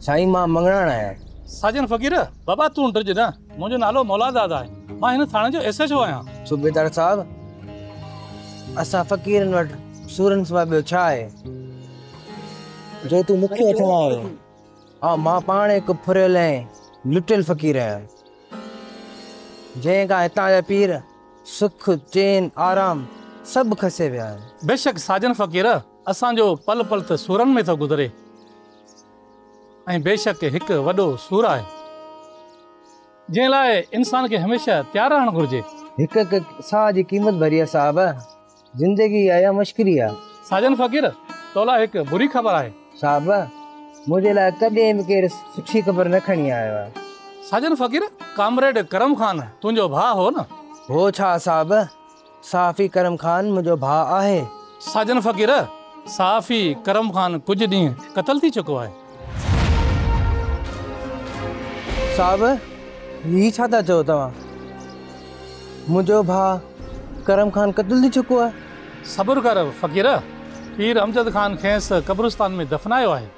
سائين مان مڱڻاڻ آهيان. ساجن فقير، بابا تون ڊڄ نه، منهنجو نالو مولاداد آهي، مان هن ٿاڻي جو ايس ايڇ او آهيان. صوبيدار صاحب، اسان فقيرن وٽ سورن سواء ٻيو ڇا آهي، جو تون مون کي وٺڻ آيو آهين. هائو، مان پاڻ هڪ ڦريل ۽ لٽيل فقير آهيان، جنهن کان هتان جا پير، سک، چين، آرام سڀ کسي ويا آهن. بيشڪ ساجن فقير، اسان جو پل پل ته سورن ۾ ٿو گذري ۽ بيشڪ هڪ وڏو سور آهي جنهن لاء انسان کي هميشه تيار رهڻ گهرجي. هڪ هڪ ساهه جي قيمت ڀري آ صاحب. زندگي آهي يا مشڪري آ. ساجن فقير تو لاء هڪ بري خبر آهي. صاحب منهنجي لاء ڪڏهن به ڪير سٺي خبر نه کڻي آيو آهي. ساجن فقير ڪامريڊ ڪرم خان تنهنجو ڀاء هو نه. هو ڇا صاحب صحافي ڪرم خان منهنجو ڀاء آهي. ساجن فقير، صحافي ڪرم خان ڪجهه ڏينهن قتل ٿي چڪو آهي. صاحب، هي ڇا ٿا چئو توهان؟ منهنجو ڀاء ڪرم خان قتل ٿي چڪو آهي. صبر ڪر فقير، پير امجد خان کيس قبرستان ۾ دفنايو آهي.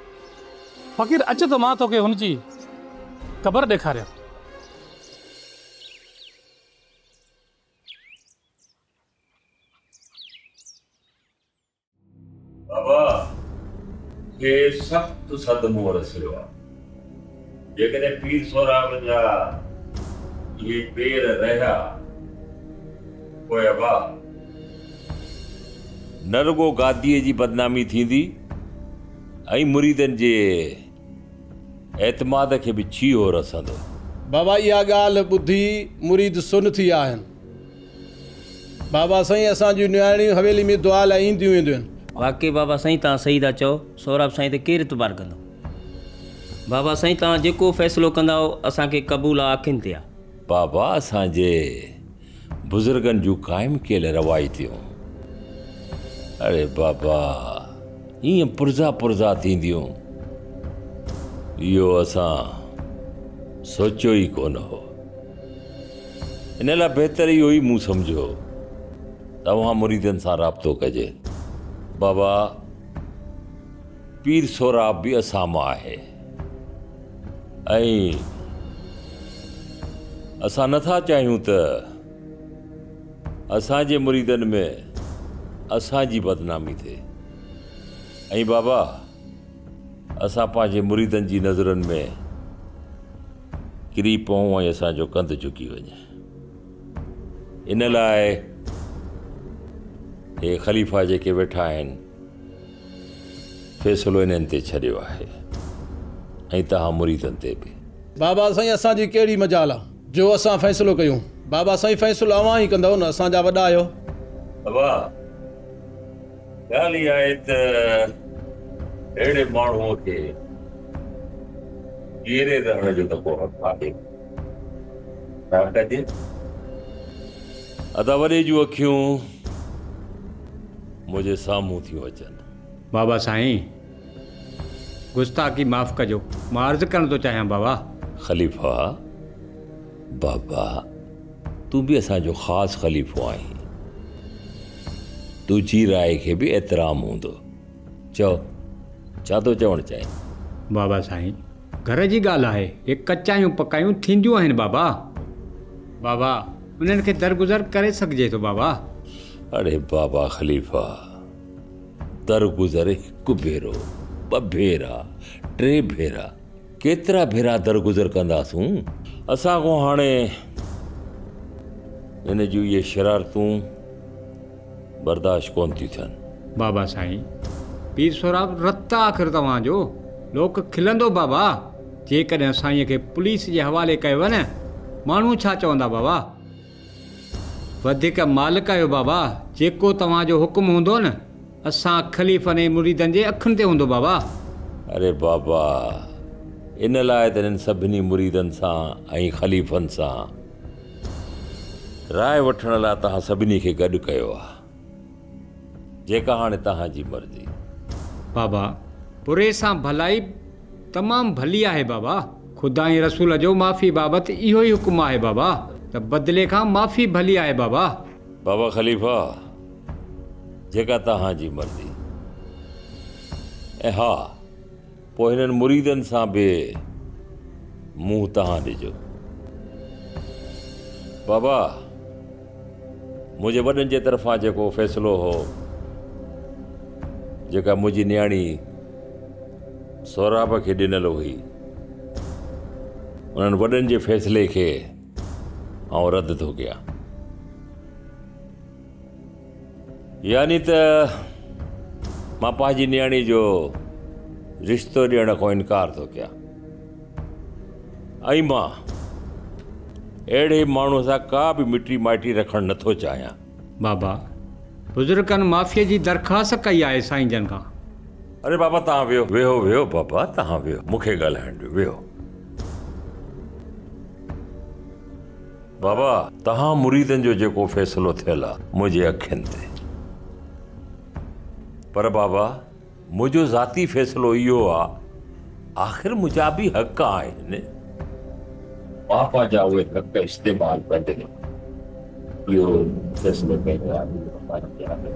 فقير اچ ته مان توکي هن جي قبر ڏيکاريان. بابا کي سخت صدمو رسيو آهي جيڪڏهن پير سهراب جا اهي پير رهيا پوء ابا نه رڳو گاديء جي بدنامي ٿيندي ۽ مريدن جي اعتماد کي به ڇيهو رسندو. بابا اها ڳالهه ٻڌي مريد سن ٿي ويا آهن. بابا سائين اسان جون نياڻيون حويلي ۾ دعا لاء اينديون وينديون آهن. واقعي بابا سائين توهان صحيح ٿا چئو سهراب سائين تي ڪير اعتبار ڪندو. بابا سائين توهان جيڪو فيصلو ڪندائو اسان کي قبول آ اکين تي آ. بابا اسان جي. بزرگن جون قائم ڪيل روايتيون اڙي بابا ايئن پرزا پرزا ٿينديون اهو اسان سوچيو ئي ڪونه هو ان لاء بهتر اهو ئي مون سمجهيو توهان مريدن سان رابطو ڪجي بابا پير سهراب به اسان مان آهي ۽ اسان نه ٿا چاهيون ته اسان جي مريدن ۾ اسان جي بدنامي ٿئي ۽ بابا اسان پنهنجي مريدن جي نظرن ۾ ڪري پئون ۽ اسان جو ڪنڌ جهڪي وڃي ان لاء هي خليفا جيڪي ويٺا آهن فيصلو انهن تي ڇڏيو آهي ۽ توهان مريدن تي به. بابا سائين اسان جي ڪهڙي مجال آ جو اسان فيصلو ڪيون بابا سائين فيصلو اوهان ئي ڪندؤ نه اسان جا وڏا آهيو. بابا ڳالهه اها آهي ته اهڙي ماڻهوء کي جيئري رهڻ جو نه ڪو حق آهي ڇا ڪجي. ادا وڏي جون اکيون. منهنجي سامهون ٿيون اچن. بابا سائين گستاخي معاف ڪجو مان عرض ڪرڻ ٿو چاهيان بابا. خليفا بابا تون به اسان جو خاص خليفو آهين تنهنجي راء کي به احترام هوندو چئو ڇا ٿو چوڻ چاهين. بابا سائين گهر جي ڳالهه آهي هي ڪچايون پڪايون ٿينديون آهن بابا. بابا انهن کي درگذر ڪري سگهجي ٿو بابا. اڙي بابا خليفا، در گذر هڪ ڀيرو، ٻه ڀيرا، ٽي ڀيرا، ڪيترا ڀيرا در گذر ڪنداسون؟ اسان کان هاڻي هن جون اهي شرارتون برداشت ڪونه ٿيون ٿين. بابا سائين، پير سهراب رت آ آخر توهان جو، لوڪ کلندو بابا، جيڪڏهن سائينء کي پوليس جي حوالي ڪيوء نه، ماڻهو ڇا چوندا بابا؟ وڌيڪ مالڪ آهيو بابا، جيڪو توهان جو حڪم هوندو نه اسان خليفن ۽ مريدن جي اکين تي هوندو بابا. اري بابا، ان لاء ته هنن سڀني مريدن سان ۽ خليفن سان راء وٺڻ لاء توهان سڀني کي گڏ ڪيو آهي. جيڪا هاڻي توهان جي مرضي. بابا، پورهئي سان ڀلائي تمام ڀلي آهي بابا. خدا ۽ رسول جو معافي بابت اهو ئي حڪم آهي بابا ته بدلي کان معافي ڀلي آهي بابا. بابا خليفه، جيڪا توهان جي مرضي. ۽ ها! پوء هنن مريدن سان به منهن تهان ڏجو. بابا! منهنجي وڏن جي طرفان جيڪو فيصلو هو، جيڪا منهنجي نياڻي سهراب کي ڏنل هئي، انهن وڏن جي فيصلي کي آئون رد ٿو ڪيان. يعني ته مان پنهنجي نياڻي جو رشتو ڏيڻ کان انڪار ٿو ڪيان ۽ مان اهڙي ماڻهو سان ڪا به مٽي مائٽي رکڻ نٿو چاهيان. بابا بزرگن معافيء جي درخواست ڪئي آهي سائين جن کان. اري بابا توهان ويهو. ويهو ويهو بابا توهان ويهو مون کي ڳالهائڻ ڏيو ويهو. بابا توهان مريدن جو جيڪو فيصلو ٿيل آ منهنجي اکين تي پر بابا منهنجو ذاتي فيصلو اهو آ آخر منهنجا به حق آهن بابا جا اهي حق استعمال ڪندي اهو فيصلو ڪيو آهي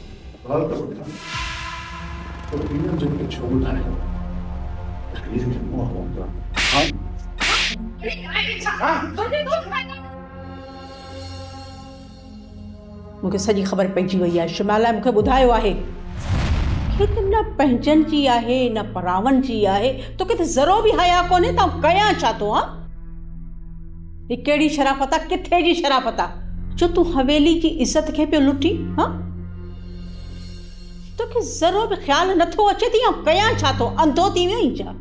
غور ته ٻڌ ته پيء جو ڪي ڇو ٻڌايو ته هيء جو منهن موڪلان ها ها. مون کي سڄي خبر پئجي وئي آهي شمال لاء مون کي ٻڌايو آهي. کي ته نه پنهنجن جي آهي نه پراون جي آهي توکي ته ذرو به حيا ڪونهي ته آئون ڪيان ڇا ٿو ها. هي ڪهڙي شرافت آ ڪٿي جي شرافت آ جو تون حويلي جي عزت کي پيو لٽي ها توکي ذرو به خيال نه ٿو اچي ته آئون ڪيان ڇا ٿو انڌو ٿي ويو آهين ڇا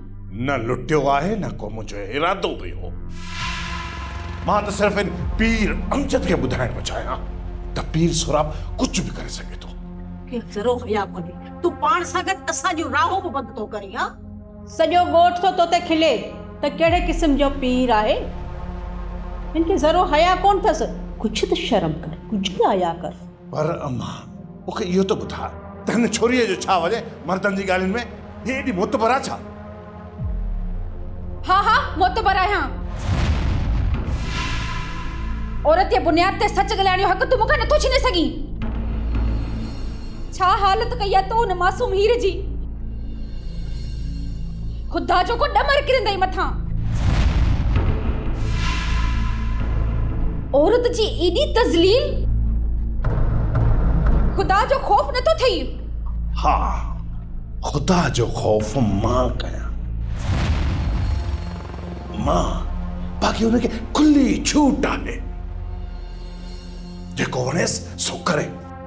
نه لٽيو آهي نه ڪو منهنجو ارادو به هو مان ته صرف ان پير امجد کي ٻڌائڻ پيو چاهيان ته پير سهراب ڪجهه به ڪري سگهي ٿو کي ذرو حيا ڪونهي تون پاڻ سان گڏ اسان جون راهون به بند ٿو ڪرين ها سڄو ڳوٺ ٿو توتي کلي ته ڪهڙي قسم جو پير آهي هن کي ذرو حيا ڪونه ٿس ڪجهه ته شرم ڪر ڪجهه ته حيا ڪر. پر اما مون کي اهو ته ٻڌاء ته هن ڇوريء جو ڇا وڃي مردن جي ڳالهين ۾ هي ايڏي معتبر آهي ڇا؟ ها ها معتبر آهيان عورتيه بنياد تي سچ ڳالهائڻ جو حق تون مون کان نٿو ڇيني سگهين. ڇا حالت ڪئي آهي تو ان معصوم هير جي. خدا جو ڪو ڏمر ڪرندئي مٿان. عورت جي ايڏي تذليل. خدا جو خوف نٿو ٿئي. ها خدا جو خوف مان ڪيان. مان باقي ان کي کلي ڇوٽ آهي. جيڪو وڻيس سو ڪري.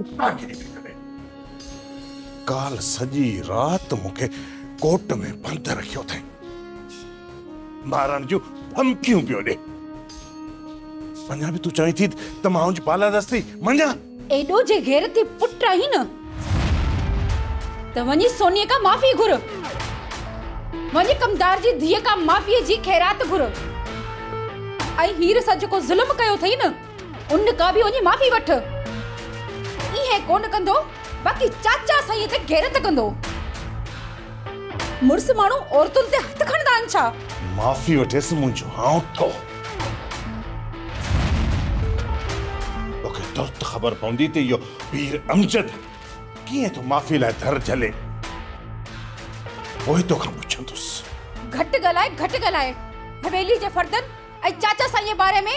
اتان ڪٿي ٿي سگهي. ڪالهه سڄي رات مون کي ڪوٽ ۾ بند رکيو اٿئي. مارڻ جون ڌمڪيون پيو ڏي. اڃا به تون چوين ٿي ته مان هنج بالادستي مڃان؟ ايڏو جي غيرتي پٽ آهين نه ته وڃي سونيء کان معافي گهر. وڃي ڪمدار جي ڌيء کان معافيء جي خيرات گهر. ۽ هير سان جيڪو ظلم ڪيو اٿئي نه ان کان به وڃي معافي وٺ. ايئن ڪونه ڪندو باقي چاچا سائينء تي غيرت ڪندو. مڙس ماڻهو عورتن تي هٿ کڻندا آهن ڇا؟ معافي وٺيس منهنجو آئون ٿو. توکي ترت خبر پوندي ته اهو پير امجد ڪيئن ٿو معافي لاء در جهلي. پوء توکان پڇندس. گهٽ ڳالهاء گهٽ ڳالهاء. حويلي جي فردن ۽ چاچا سائينء باري ۾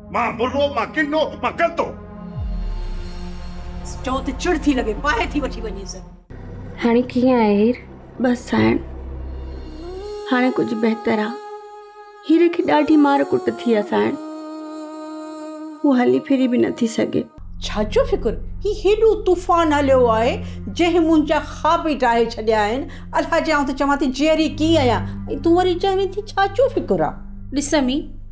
مان برو، مان ڪنو، مان ڪلتو. چئو ته چڙ ٿي لڳي، پاهي ٿي وٺي وڃيس. هاڻي ڪيئن آهي هير؟ بس سائڻ، هاڻي ڪجهه بهتر آ. هير کي ڏاڍي مار ڪٽ ٿي آ سائڻ. هو هلي ڦري به نه ٿي سگهي. ڇا جو فڪر؟ هي هيڏو طوفان هليو آهي، جنهن منهنجا خواب ئي ڊاهي ڇڏيا آهن. الهه جي آئون ته چوان ٿي جيئري ڪيئن آهيان ۽ تون وري چوين ٿي ڇا جو فڪر آ؟ ڏسمي!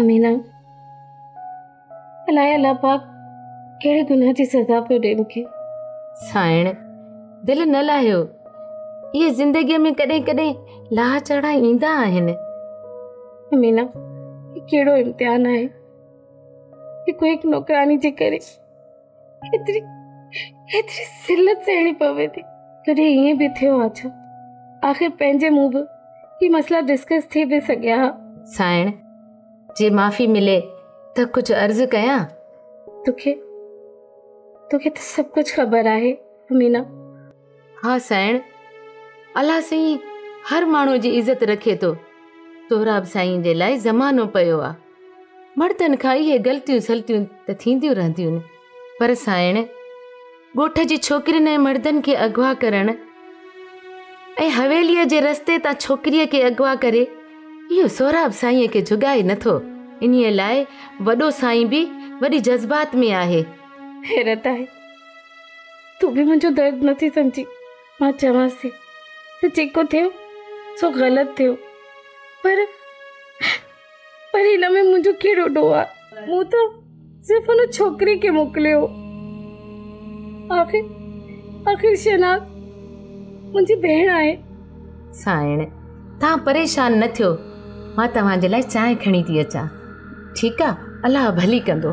امينه، الائي الله پاڪ ڪهڙي گناهه جي سزا پيو ڏي مونکي. سائڻ، دل نه لاهيو، اهي زندگيء ۾ ڪڏهن ڪڏهن لاهه چڙها ايندا آهن. امينه، هي ڪهڙو امتحان آهي. هڪ هڪ نوڪراني جي ڪري. ايتري ايتري سلت سهڻي پوي ٿي ڪڏهن ائين به ٿيو آ ڇا آخر پنهنجي مون به هي مسئلا ڊسڪس ٿي به سگهيا ها سائڻ جي معافي ملي ته ڪجهه عرض ڪيان توکي توکي ته سڀ ڪجهه خبر آهي امينا ها سائڻ، الله سائين هر ماڻهو جي عزت رکي ٿو. سهراب سائين جي لاء زمانو پيو آ. مڙدن کان اهي غلطيون سلطيون ته ٿينديون رهنديون پر سائڻ ڳوٺ جي ڇوڪرين ۽ مڙدن کي اغوا ڪرڻ ۽ حويليء جي رستي تان ڇوڪريء کي اغوا ڪري اهو سهراب سائين کي جھڳائي نٿو انهي لاء وڏو سائين به وڏي جذبات ۾ آهي حيرت آهي تون به منهنجو درد نٿي سمجهين، مان چوانس ٿي ته جيڪو ٿيو سو غلط ٿيو پر پر هن ۾ منهنجو ڪهڙو ڏوهه آهي، مون ته صرف ان ڇوڪري کي موڪليو آخر آخر شهناز منهنجي ڀيڻ آهي. سائڻ، توهان پريشان نه ٿيو، مان توهان جي لاء چانهه کڻي ٿي اچان. ٺيڪ آ، الله ڀلي ڪندو.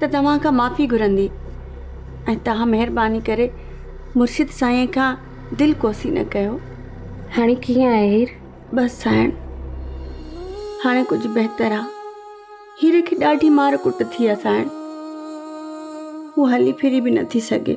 ته توهان کان معافي گهرندي ۽ توهان مهرباني ڪري مرشد سائينء کان دل ڪوسي نه ڪيو. هاڻي ڪيئن آهي هير؟ بس سائڻ، هاڻي ڪجهه بهتر آ. هير کي ڏاڍي مار ڪٽ ٿي آ سائڻ. هو هلي ڦري به نٿي سگهي.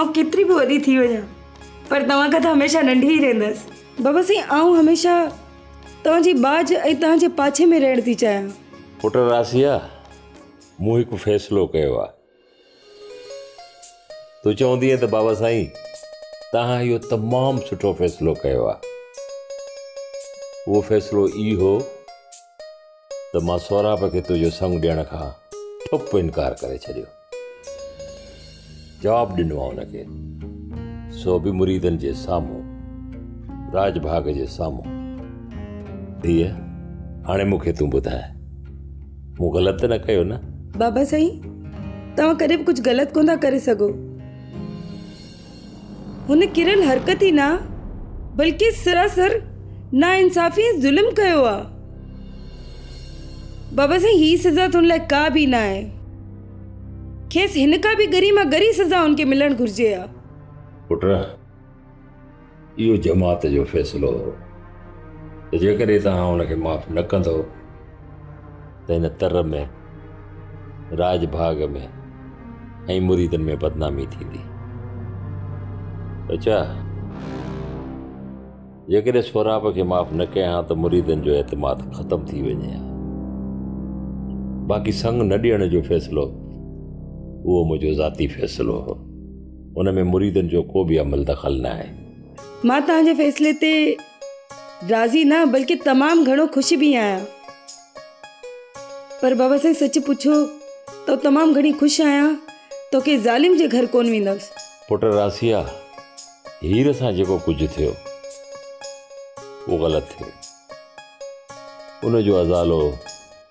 آئون ڪيتري به وڏي ٿي وڃان پر توهان کان ته هميشه ننڍي ئي رهندس بابا سائين آئون هميشه توهان جي ٻاجهه ۽ توهان جي پاڇي ۾ رهڻ ٿي چاهيان پٽ راسيا مون هڪ فيصلو ڪيو آهي تون چوندينء ته بابا سائين توهان اهو تمام سٺو فيصلو ڪيو آهي اهو فيصلو اهو ته مان سهراب کي تنهنجو سڱ ڏيڻ کان ٺپ انڪار ڪري ڇڏيو. جواب ڏنو آ ان کي، سو به مريدن جي سامهون، راڄ ڀاڳ جي سامهون. ڌيء، هاڻي مون کي تون ٻڌاء، مون غلط ته نه ڪيو نه؟ بابا سائين، توهان ڪڏهن به ڪجهه غلط ڪونه ٿا ڪري سگهو. هن ڪريل حرڪت ئي نه بلڪه سراسر ناانصافي ۽ ظلم ڪيو آ. بابا سائين هي سزا ٿن لاء ڪا به نه آهي. کيس هن کان به ڳري مان ڳري سزا هن کي ملڻ گهرجي ها. پٽ اهو جماعت جو فيصلو هو ته جيڪڏهن توهان ان کي معاف نه ڪندو ته هن تر ۾ راڄ ڀاڳ ۾ ۽ مريدن ۾ بدنامي ٿيندي اچا جيڪڏهن سهراب کي معاف نه ڪيان ها ته مريدن جو اعتماد ختم ٿي وڃي ها باقي سنگ نه ڏيڻ جو فيصلو اهو منهنجو ذاتي فيصلو هو ان ۾ مريدن جو ڪو به عمل دخل ناهي. مان توهان جي فيصلي تي راضي نه بلڪه تمام گهڻو خوش به آهيان. پر بابا سائين سچ پڇو ته تمام گهڻي خوش آهيان ته ڪنهن ظالم جي گهر ڪونه ويندس. پٽ راسيا هير سان جيڪو ڪجهه ٿيو اهو غلط ٿيو. ان جو ازالو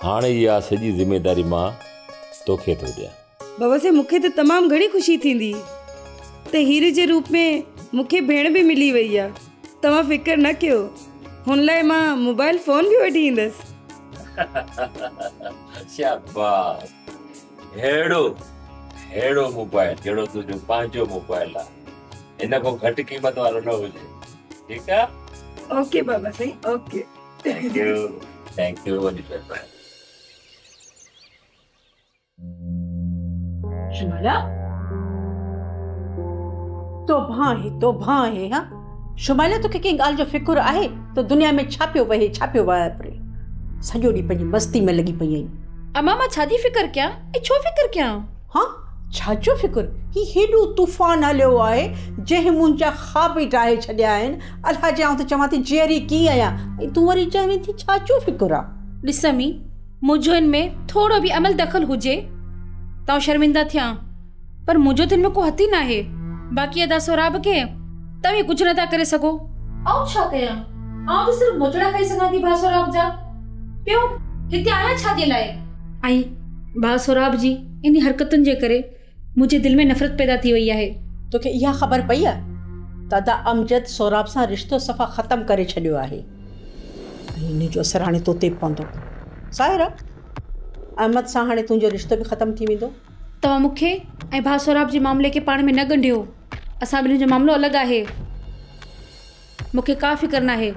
هاڻ اها سڄي ذميداري مان توکي ٿو ڏيان. بوسي مون کي ته تمام گهڻي خوشي ٿيندي ته هيري جي روپ ۾ مون کي ڀيڻ به ملي وئي آ. توهان فڪر نه ڪيو هن لاء مان موبائل فون به وٺي ايندس. شاباس ههڙو ههڙو موبائل جهڙو تنهنجو پنهنجو موبائل آ هن کان گهٽ قيمت وارو نه هجي ٺيڪ آ. اوڪي بابا سائين okay. Thank you thank you وڏي مهرباني شمالا تو ڀان هي تو ڀان هي ها شمالا تو کي ڪنهن ڳالهه جو فڪر آهي تو دنيا ۾ ڇا پيو وهي ڇا پيو واپري سڄو ڏينهن پنهنجي مستي ۾ لڳي پئي آهين اما مان ڇا جي فڪر ڪيان ۽ ڇو فڪر ڪيان ها! ڇا جو فڪر؟ هي هيڏو طوفان هليو آهي، جنهن منهنجا خواب ئي ڊاهي ڇڏيا آهن. الها جي آئون ته چوان ٿي جيئري ڪيئن آهيان ۽ تون وري چوين ٿي ڇا جو فڪر آهي؟ ڏس امي، منهنجو ان ۾ ٿورو به عمل دخل هجي ته آئون شرمنده ٿيان، پر منهنجو ته ان ۾ ڪو هٿ ئي ناهي. باقي ادا سهراب کي توهين ڪجهه نه ٿا ڪري سگهو. آئون ڇا ڪيان؟ آئون ته صرف موچڙا کائي سگهان ٿي ڀاء سهراب جا. ٻيو هتي آهيان ڇا جي لاء؟ ۽ ڀاء سهراب جي انهي حرڪتن جي ڪري منهنجي دل ۾ نفرت پيدا ٿي وئي آهي. توکي اها خبر پئي آهي ته ادا امجد سهراب سان رشتو صفا ختم ڪري ڇڏيو آهي ۽ انهي جو اثر هاڻي توتي به پوندو. ظاهر آهي احمد سان هاڻي تنهنجو رشتو به ختم ٿي ويندو. توهان مون کي ۽ ڀاء سهراب جي معاملي کي پاڻ ۾ نه ڳنڍيو. اسان ٻنهين جو معاملو الڳ آهي. مون کي ڪا فڪر ناهي.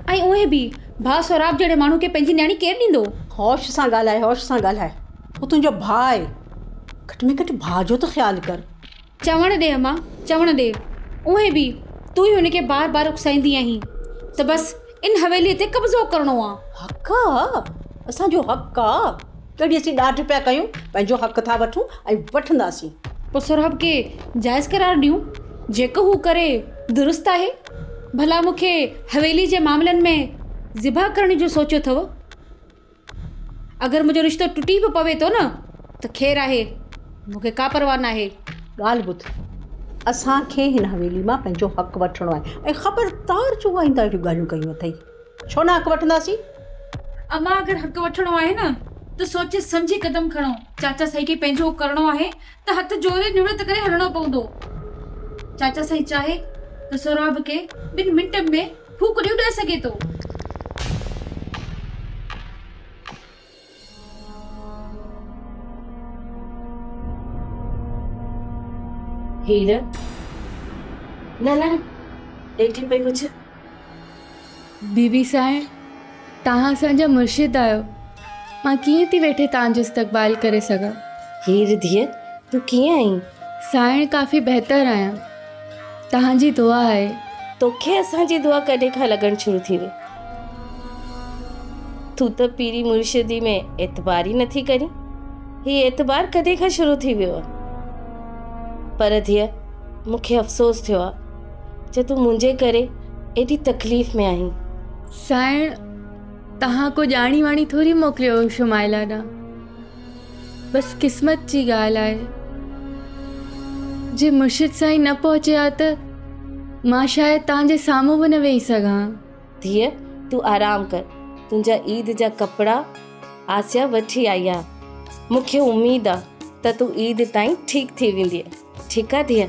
۽ اونهي به، ڀاء سهراب جهڙي ماڻهو کي پنهنجي نياڻي ڪير ڏيندو؟ هوش سان ڳالهاء، هوش سان ڳالهاء. هو تنهنجو ڀاء آهي. گهٽ ۾ گهٽ ڀاء جو ته خيال ڪر. چوڻ ڏي اما، چوڻ ڏي. اونهي به، تون ئي هن کي بار بار اڪسائيندي آهين ته بس ان حويليء تي قبضو ڪرڻو آ. حق آ، اسان جو حق آ. ڪيڏي اسين ڏاڍ پيا ڪيون، پنهنجو حق ٿا وٺون ۽ وٺنداسين. پوء سهراب کي جائز قرار ڏيون، جيڪو هو ڪري درست آهي. ڀلا مون کي حويلي جي معاملن ۾ ذبح ڪرڻ جو سوچيو اٿئو؟ اگر منهنجو رشتو ٽٽي به پوي ٿو نه ته خير آهي، مون کي ڪا پرواهه ناهي. ڳالهه ٻڌ، اسان کي هن حويلي مان پنهنجو حق وٺڻو آهي ۽ خبردار جو آئنده اهڙيون ڳالهيون ڪيون اٿئي. ڇو نه حق وٺنداسين؟ امان اگر حق وٺڻو آهي نه ته سوچي سمجهي قدم کڻو. چاچا سائين کي پنهنجو ڪرڻو آهي ته هٿ جوڙي نوڙت ڪري هلڻو پوندو. چاچا سائين چاهي ته سهراب کي ٻن منٽن ۾ ڦوڪ ڏيئي اڏائي سگهي ٿو. هير، نه نه هيٺ پئي پڇ. بي بي سائين، توهان اسان جا مرشد آهيو، مان ڪيئن ٿي ويٺي توهان جو استقبال ڪري سگهان. هير، ڌيء تون ڪيئن آهين؟ سائين، ڪافي بهتر آهيان. توهان جي دعا آهي. توکي اسان جي دعا ڪڏهن کان لڳڻ شروع ٿي وئي. تون ته پيري مرشدي ۾ اعتبار ئي نٿي ڪرين. هي اعتبار ڪڏهن کان شروع ٿي ويو آهي. پر ڌيء مون کي افسوس ٿيو آهي جو تون منهنجي ڪري ايڏي تڪليف ۾ آهين. سائڻ توهان ڪو ڄاڻي واڻي ٿوري موڪليو هو شمائلا ڏانهن. بس قسمت جي ڳالهه آهي، جي مرشد سائين نه پهچي ها ته مان شايد توهان جي سامهون به نه ويهي سگهان ها. ڌيء تون آرام ڪر، تنهنجا عيد جا ڪپڙا آسيا وٺي آئي آهي، مون کي اميد آهي ته تون عيد تائين ٺيڪ ٿي ويندينء، ٺيڪ آهي ڌيء؟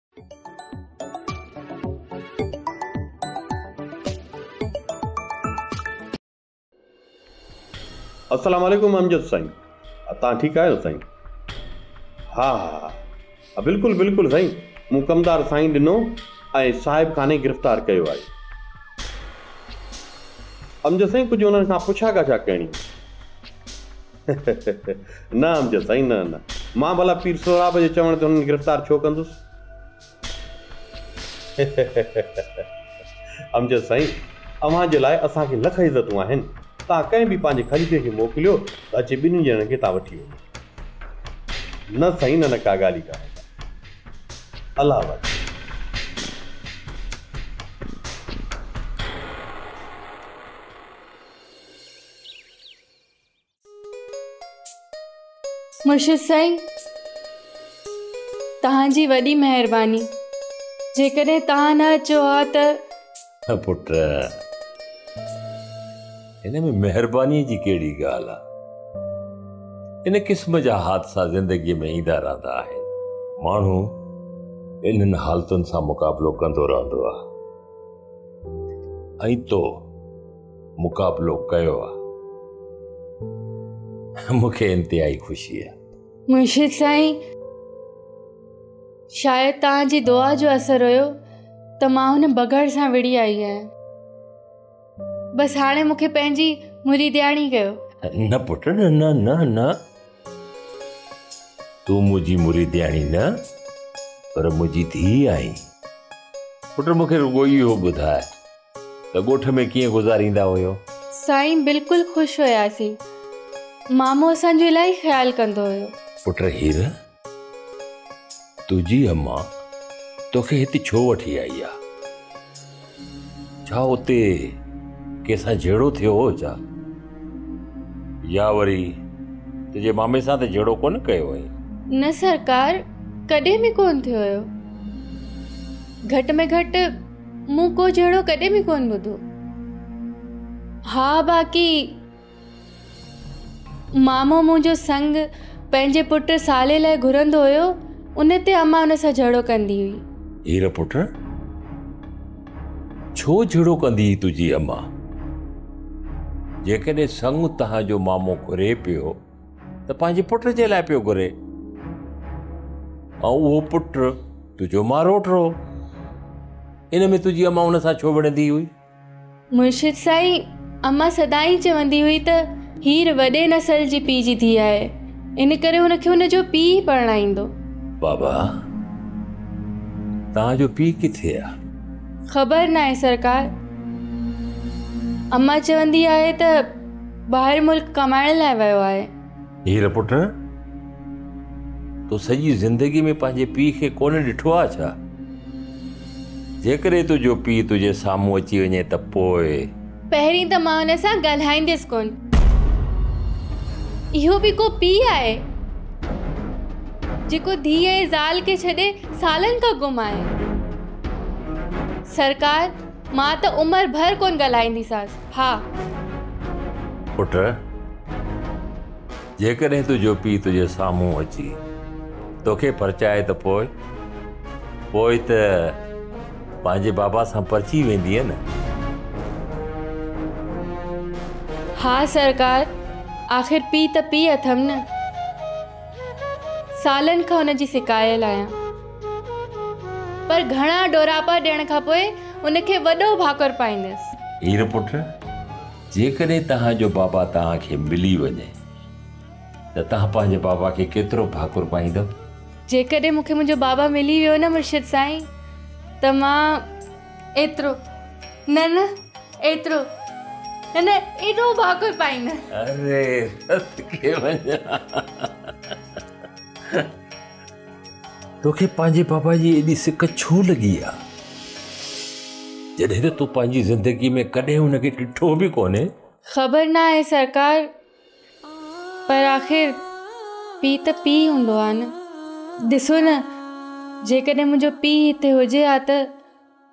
السلام عليڪم امجد سائين تان ٺيڪ آهيو سائين ها ها بلڪل بلڪل سائين مون ڪمدار سائين ڏنو ۽ صاحب خاني گرفتار ڪيو آهي امجد سائين ڪجهه انهن کان پڇا ڳاڇا ڪرڻي نه امجد سائين نه نه مان ڀلا پير سهراب جي چوڻ تي انهن کي گرفتار ڇو ڪندس؟ امجد سائين اوهان جي لاء اسان کي لک عزتون آهن توهان ڪنهن به پنهنجي خليفي کي موڪليو ته اچي ٻنهي ڄڻن کي تان وٺي وڃي. نه سائين نه نه ڪا ڳالهه ئي ڪانهي الله آباد. مرشد سائين توهان جي وڏي مهرباني جيڪڏهن توهان نه اچو ها ته نه پٽ هن ۾ مهرباني جي ڪهڙي ڳالهه آ ان قسم جا حادثا زندگي ۾ ايندا رهندا آهن ماڻهو انهن حالتن سان مقابلو ڪندو رهندو آ ۽ تو مقابلو ڪيو آ مون کي انتهائي خوشي آ. مرشد سائين شايد توهان جي دعا جو اثر هيو ته مان هن بگهڙ سان وڙهي آئي آهيان بس هاڻي مون کي پنهنجي مريدياڻي ڪيو. نه پٽ نه نه نه نه تون منهنجي مريدياڻي نه پر منهنجي ڌيء آهين پٽ مون کي رڳو اهو ٻڌاء ته ڳوٺ ۾ ڪيئن گذاريندا هيو؟ سائين بلڪل خوش هياسين. مامو اسان جو الاهي خيال ڪندو هيو. پٽ هير تنهنجي اما توکي هت ڇو وٺي آئي آ؟ ڇا اتي ڪنهن سان جهيڙو ٿيو هو ڇا؟ يا وري تنهنجي مامي سان ته جهيڙو ڪونه ڪيو هئين؟ نه سرڪار ڪڏهن به ڪونه ٿيو هيو. گهٽ ۾ گهٽ مون ڪو جهيڙو ڪڏهن به ڪونه ٻڌو. ها باقي مامو منهنجو سنگ پنهنجي پٽ سالي لاء گهرندو هيو ان تي اما ان سان جهيڙو ڪندي هئي. هير پٽ ڇو جهيڙو ڪندي هئي تنهنجي اما؟ جيڪڏهن سنگ تنهنجو مامو گهري پيو ته پنهنجي پٽ جي لاء پيو گهري ۽ اهو پٽ تنهنجو ماروٽ هو ان ۾ تنهنجي اما ان سان ڇو وڙهندي هئي مرشد سائين اما سدائين چوندي هئي ته هير وڏي نسل جي پيء جي ڌيء آهي ان ڪري هن کي هن جو پيء ئي پرڻائيندو بابا توهان جو پيء ڪٿي آهي خبر ناهي سرڪار اما چوندي آهي ته ٻاهر ملڪ ڪمائڻ لاء ويو آهي. هير پٽ! تو سڄي زندگي ۾ پنهنجي پيء کي ڪونه ڏٺو آهي ڇا؟ جيڪڏهن تنهنجو پيء تنهنجي سامهون اچي وڃي ته پوء؟ پهرين ته مان هن سان ڳالهائينديس ڪونه. اهو به ڪو پيء آهي، جيڪو ڌيء ۽ زال کي ڇڏي سالن کان گم آهي. سرڪار! مان ته عمر ڀر ڪونه ڳالهائينديسانس. ها! پٽ! جيڪڏهن تنهنجو پيء تنهنجي سامهون اچي توکي پرچائي ته پوء؟ پوء ته پنهنجي بابا سان پرچي ويندينء نه؟ ها سرڪار! آخر پيء ته پيء اٿم نه. سالن کان ان جي سڪايل آهيان پر گهڻا ڏوراپا ڏيڻ کان پوء ان کي وڏو ڀاڪر پائيندس. هير پٽ! جيڪڏهن توهان جو بابا توهان کي ملي وڃي ته توهان پنهنجي بابا کي ڪيترو ڀاڪر پائيندؤ؟ جيڪڏهن مون کي منهنجو بابا ملي ويو نه مرشد سائين ته مان ايترو نه نه. ايترو هن ايڏو ڀاڪر پائين. اري رت کي وڃان. توکي پنهنجي بابا جي ايڏي سڪ ڇو لڳي آ؟ جڏهن ته تو پنهنجي زندگي ۾ ڪڏهن ان کي ڏٺو به ڪونهي. خبر ناهي سرڪار پر آخر پيء ته پيء هوندو آ نه. ڏسو نه جيڪڏهن منهنجو پيء هتي هجي ها ته.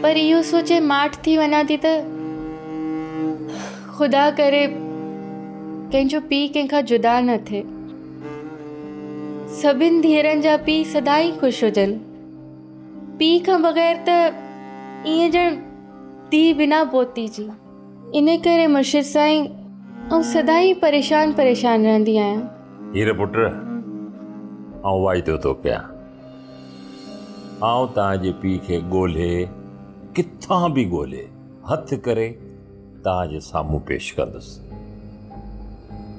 پر اهو سوچي ماٺ ٿي وڃان ٿي ته خدا ڪري ڪنهن جو پيء ڪنهن کان جدا نه ٿئي. سڀني ڌيئرن جا پيء سدائين خوش هجن. پيء کان بغير ته ائين ڄڻ ڌيء بنا پوتي جي. ان ڪري مرشد سائين آئون سدائين پريشان پريشان رهندي آهيان. هير پٽ آئون واعدو ٿو ڪيان. آئون توهان جي پيء کي ڳولهي ڪٿان به ڳولهي هٿ ڪري توهان جي سامهون پيش ڪندس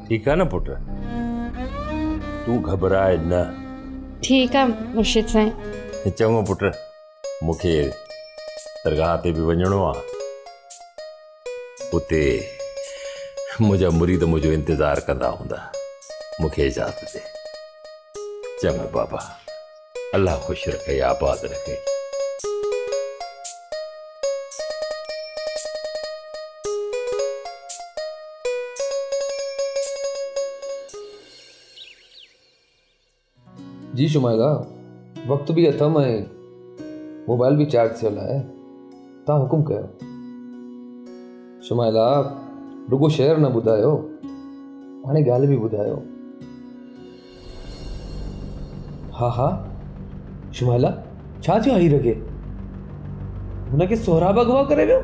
ٺيڪ آهي نه پٽ تون گهٻراء نه ٺيڪ آهي مرشد سائين چڱو پٽ مون کي درگاهه تي به وڃڻو آهي اتي منهنجا مريد منهنجو انتظار ڪندا هوندا مون کي اجازت ڏي چڱو بابا الله خوش رکي آباد رکي جي شمائلا وقت به اٿم ۽ موبائل به چارج ٿيل آهي تان حڪم ڪيو. شمائلا رڳو شعر نه ٻڌايو هاڻي ڳالهه به ٻڌايو. ها ها شمائلا ڇا ٿيو هير کي هن کي سهراب اغوا ڪري ويو.